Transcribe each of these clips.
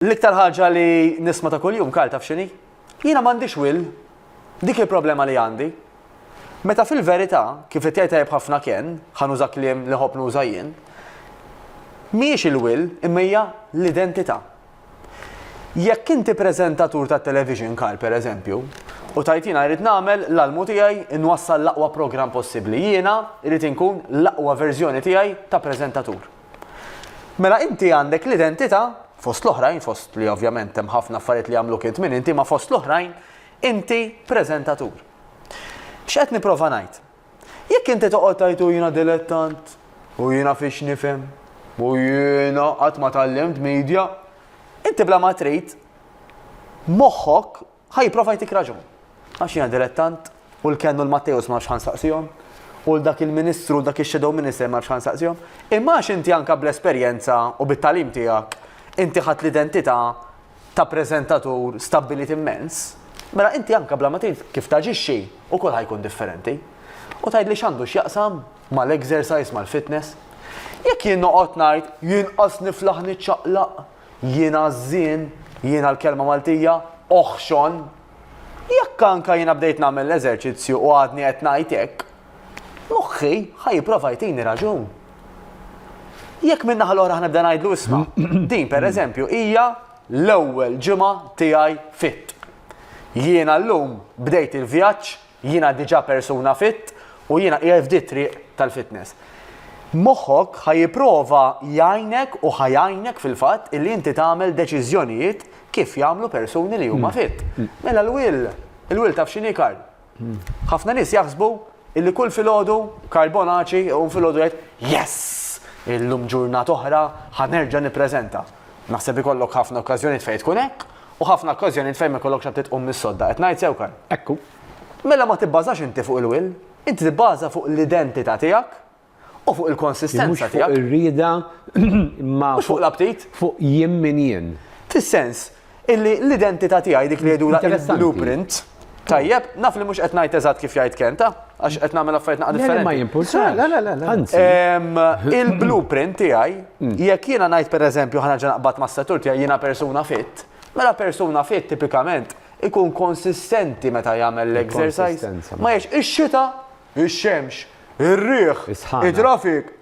L-iktar ħaġa li nisma' ta' kuljum, Karl, taf x'inhi? Jiena m'għandix will. Dik hi l-problema li għandi. Meta fil-verità, kif qed jgħid tajjeb ħafna Ken, ħa nuża kliem li nħobb nuża jien, mhijiex il-will imma hija l-identità. Jekk inti preżentatur tat-television, Karl, pereżempju, u tgħid jiena rrid nagħmel l-almu tiegħi nwassal l-aqwa programm possibbli, jiena rrid inkun l-aqwa verżjoni tiegħi ta' preżentatur. Mela inti għandek l-identità, fost l-oħrajn, fost li ovvjament hemm ħafna affarijiet li jagħmluk int min inti, ma fost l-oħrajn inti preżentatur. X'qed nipprova ngħid? Jekk inti toqgħod tgħid u jiena dilettant, u jiena fiex nifhem, u jiena qatt ma tallimt media, inti bla ma trid moħħok Ħa jipprova jtik raġun. Għax jiena dilettant, u l-Ken u l-Matteus ma nafx ħa nsaqsihom, u 'l dak il-Ministru u 'l dak ix-Shadow Minister ma nafx ħa nsaqsihom. Imma għax inti anke bl-esperjenza u bit-tagħlim tiegħek, inti ħadt l-identità ta' preżentatur stabbilit immens, mela inti anke bla ma trid kif taġixxi wkoll ħa jkun differenti. U tgħidli x'għandu x'jaqsam mal-exercise, mal-fitness? Jekk jien noqgħod ngħid, 'Jien qas niflaħ niċċaqlaq', Jiena ż-żien, jiena l-kelma Maltija, oħxon. Jekk anka jiena bdejt nagħmel l-eżerċizzju u għadni qed ngħid hekk, moħħi ħa jipprova jtini raġun. Jekk minn naħa l-oħra ħnibda ngħidlu isma', din pereżempju hija l-ewwel ġimgħa tiegħi fit. Jiena llum bdejt il-vjaġġ Jiena diġà persuna fit u jiena qiegħed f'di t-triq tal-fitness. Moħħok ħa jipprova jgħinek u ħa jgħinek fil-fatt illi inti tagħmel deċiżjonijiet kif jagħmlu persuni li huma fit. Mela l-will, il-will taf x'inhi Karl? Ħafna nies jaħsbu illi kull filgħodu Karl Bonaċi u filgħodu jgħid yes! Illum ġurnat oħra ħa nerġa' nippreżenta. Naħseb ikollok ħafna okkażjonijiet fejn tkun hekk U ħafna okkażjonijiet fejn ma jkollokx għad tqum mis-sodda. Qed ngħid sew, Karl? Hekk hu. Mela ma tibbażax inti fuq il-will, inti tibbaża fuq l-identità tiegħek u fuq il-konsistenza tiegħek. Mhux fuq ir-rieda imma fuq l-aptit. Fuq jien min jien. Fis-sens illi l-identità tiegħi dik li jgħidulha il-blueprint. Tajjeb, naf li mhux qed ngħid eżatt kif jgħid Kenta, għax qed nagħmel affarijiet naqa' differenti. Ma jimpulsa, la la la. Anzi. Il-blueprint tiegħi, mm. jekk jiena ngħid pereżempju ħana ġa naqbad mas-settur tiegħi jiena persuna fit, mela persuna fit tipikament ikun konsistenti meta jagħmel l-exercise. Ma jiex ix-xita, ix-xemx, ir-riħ, it-trafik.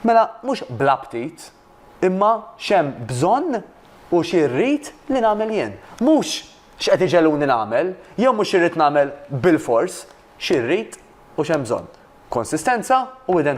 Mela mhux bla ptit, imma x'hemm bżonn u xi rrid li nagħmel jien. Mhux x'qed iġegħluni nagħmel, jew mhux xi rrid nagħmel bilfors, xi rrid u x'hemm bżonn. Konsistenza u identità.